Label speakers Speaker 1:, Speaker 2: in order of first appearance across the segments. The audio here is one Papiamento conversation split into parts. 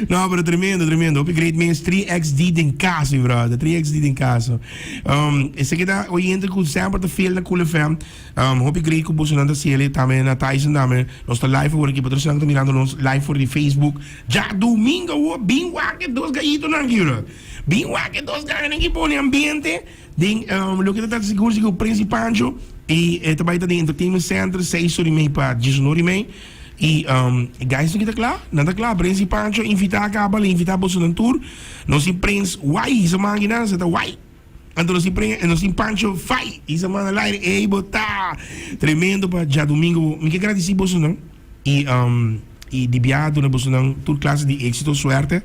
Speaker 1: No pero tremendo tremendo hopi great mens 3XD den casa mi brother 3XD den casa um, esaki ta oyente ku semper ta fiel na Cool FM um, hopi great ku bosonan ta sele tame na Tyson tame nos ta live awor aki pa trosanan ku ta mirando nos live for di Facebook ja domingo awor bin wak e dos gayitonan aki brother bin wak e dos ganganan aki pone ambiente Den loke ta Tata si cursi cu Prinsi Pancho y e ta bay ta den Entertainment Center seis ora y mey pa dies un ora y mey y e guys ki ta cla nan ta cla Prinsi Pancho invita a caba a lo invita bosonan tur nos sin Prins way y sa manki nan sa ta way anto nos sin nos sin Pancho fai y sa man al aire ey bo ta tremendo pa Djadomingo bo mi ke gradici bosonan. I di bia a duna bosonan tur clase di exito, suerte,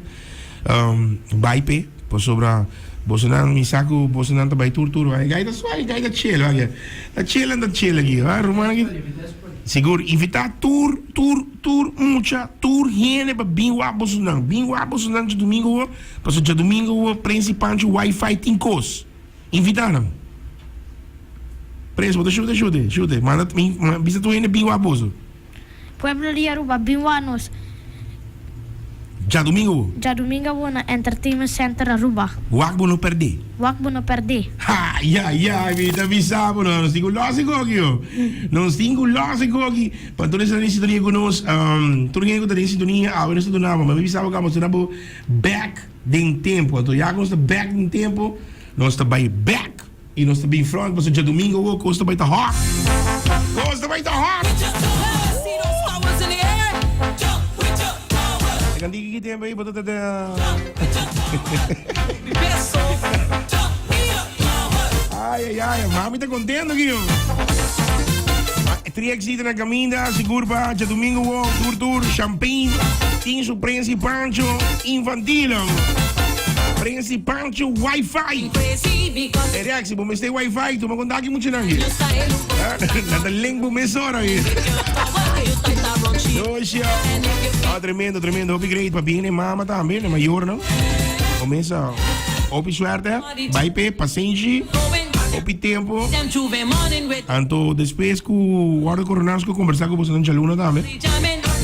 Speaker 1: bai p'e pasobra bosonan mi sa cu bosonan ta bai tur tur wak. E gai ta suave, e gai ta chela wak, ta chela nan ta chela aki, a ruman aki ta sigur invita tur tur tur mucha, tur hende pa bin wak bosonan, bin wak bosonan djadomingo wo, pasobra djadomingo wo prens y panchi wifi tin cos. Invita nan. Pres, bo ta shute, shute, shute. Manda ta bin, ma bisa tur hende bin wak boso. Pueblo di
Speaker 2: Aruba bin wak nos.
Speaker 1: Djadumingo bo. Djadumingo bo na
Speaker 2: Entertainment Center Aruba. Wak bo no perde.
Speaker 1: Wak bo no perde. Ha! Ya, ya, mi ta bisa bo no. Nos tin ku losi koki ho. Nos tin ku losi koki. Pa tur esnan ta den sintonia ku nos. Tur hende ku ta den sintonia awe nos ta duna bo. Mi bisa bo ku amo ta duna bo back. Den tempo. Anto ya cu nos ta bek den tempo, nos ta bay bek y nos ta bin front pasobra djadomingo oca cos ta bay ta hot. Cos ta bay ta hot. Tri exita na caminda, sigur pa Tjadomingo wo, tur tur, Champagne, tin su Prensi Pancho infantilon. Prensi Pancho Wi-Fi. E reactie, bo mester Wi-Fi, tuma contacto mucho nan. Na ta link bo mesora. Josia. Ah, tremendo, tremendo. Hopi great pa bien e mama tambe, ne mayor, no? Comienza, hopi suerte. bai p'e pasenshi hopi tempo anto despues ku wòrdu koroná nos ke kombersá ku boso nan djaluna tambe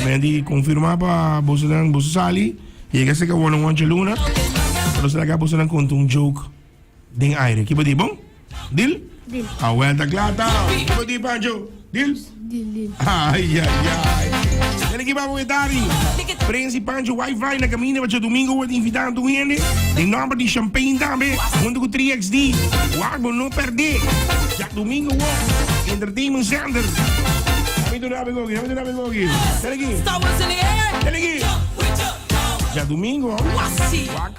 Speaker 1: men di konfirmá pa boso nan boso sali yega seka wòrdu wan djaluna nos laga boso nan konta un joke den aire kiba di bon dil. A vuelta kla ta. Ko di Pancho? Dil? Dil, dil. Ay, ay, ay. Dele ki babo etari. Prensi Pancho Wi-Fi na camino pa Domingo wordt invitado tu hende. De nombre di Champagne tambe. Junto ku 3XD. Wago no perde. Ja Domingo wo. Entertainment Center. Kami tu nabe gogi, kami tu nabe gogi. Dele ki. Dele ki. Ja Domingo. Wak.